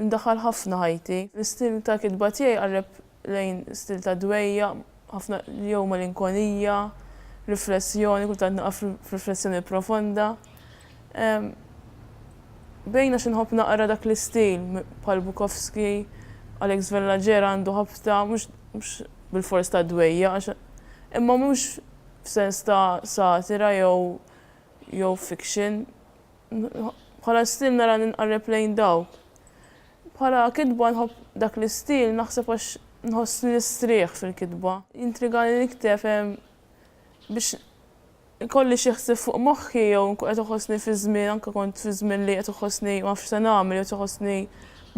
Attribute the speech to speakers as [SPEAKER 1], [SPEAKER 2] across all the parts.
[SPEAKER 1] Indaħħal ħafna ħajti. L-istil ta' kitba tiegħi jqarreb lejn stil ta' dwejjaq, ħafna jew malinkonija, riflessjoni, kultant naqa' f'riflessjoni profonda. Bejn għax inħobb naqra dak l-istil, bħal Bukowski, Alex Vellagera għandu ħabta mhux bilfors ta' dwejjaq għax imma mhux f'sens ta' satira jew jew fiction. Bħala stil nara li nqarreb lejn dawk. Bħala kitba nħobb dak l-istil naħseb għax nħoss li nistrieħ fil-kitba. Jintrigani nikteb biex ikolli xi ħsieb fuq moħħi jew inkun qed iħossni fi żmien anke kont fi żmien li qed iħossni ma nafx se nagħmel jew qed iħossni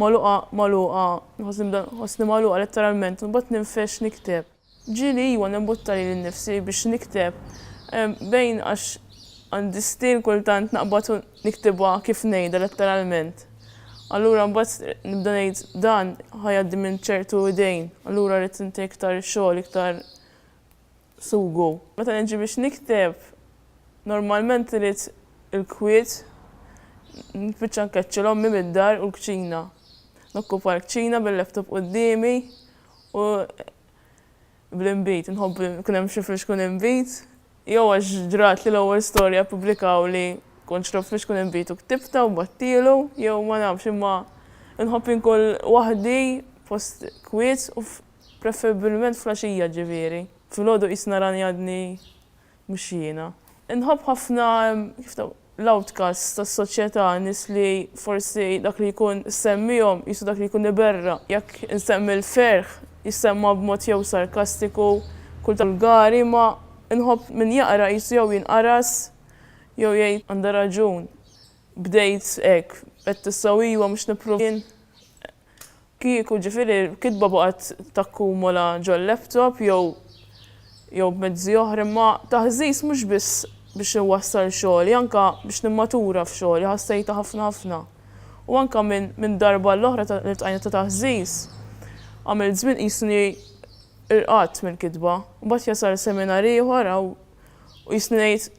[SPEAKER 1] magħluqa magħluqa, iħossni magħluqa letteralment imbagħad ninfex nikteb. Ġieli iwa nimbutta lili nnifsi biex nikteb, bejn għax għandi stil kultant naqbad u niktibha kif ngħidha letteralment. Allura mbagħad nibda ngħid dan ħa jgħaddi minn ċertu idejn, allura rrid inti iktar xogħol, iktar sugu. Meta niġi biex nikteb, normalment irid il-kwiet, nispiċċa nkeċċel ommi mid-dar u l-kċina. Nokkupa l-kċina bil-laptop quddiemi u bl-inbid, inħobb li jkun hemm xi flixkun inbid, jew għax ġrat li l-ewwel storja ppubblikawha li kont xrobt flixkun inbid u ktibtha u bgħattielu, jew ma nafx imma inħobb inkun waħdi post kwiet u preferibbilment fl-għaxija ġifieri. Filgħodu qisna rani għadni Mhux jiena. Inħobb ħafna l-outcasts tas-soċjetà, nies li forsi dak li jkun semmihom qisu dak li jkun iberra. Jekk insemmi l-ferħ, jissemma b'mod jew sarkastiku, kultant vulgari, imma inħobb min jaqra qisu jew jinqaras jew jgħid, Għandha raġun. Bdejt hekk. Għedt issa u ejwa mhux nipprova jien. Kieku, ġifieri, kitba baqgħet takkumula ġol-laptop jew jew b'mezzi oħra, imma taħżiż mhux biss biex inwassal xogħli, anke biex nimmatura f'xogħli, ħassejtha ħafna ħafna. U anke minn minn darba għall-oħra ta' li ltqajna ta' taħżiż, għamilt żmien qisni irqadt mill-kitba. Mbagħad jasal seminar ieħor u qisni ngħid,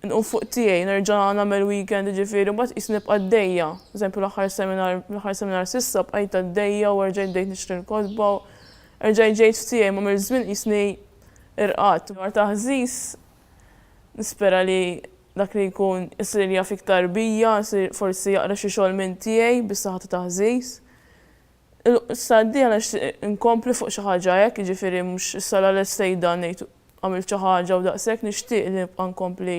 [SPEAKER 1] nqum fuq tiegħi, nerġa' nagħmel weekend jiġifieri mbagħad qisni nibqa' għaddejja. Eżempju l-aħħar seminar, l-aħħar seminar s'issa bqajt għaddejja u erġajt bdejt nixtri l-kotba u erġajt ġejt f'tiegħi imma mill-żmien qisni irqadt. Dwar taħżiż, nispera li dak li jkun isir jaf iktar bija, isir forsi jaqra xi xogħol minn tiegħi bis-saħħa ta' taħżiż. Issa d-dieħla nixtieq inkompli fuq xi ħaġa hekk, jiġifieri mhux issa l-għaliex sejda ngħid għamilt xi ħaġa u daqshekk, nixtieq li nibqa' nkompli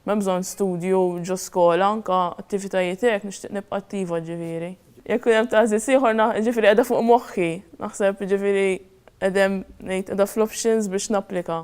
[SPEAKER 1] m'hemm bżonn studju ġo skola, anke attivitajiet hekk nixtieq nibqa' attiva ġifieri. Jekk ikun hemm tagħżiż ieħor na jiġifieri qiegħda fuq moħħi, naħseb jiġifieri qed hemm ngħid qiegħda fl-options biex napplika.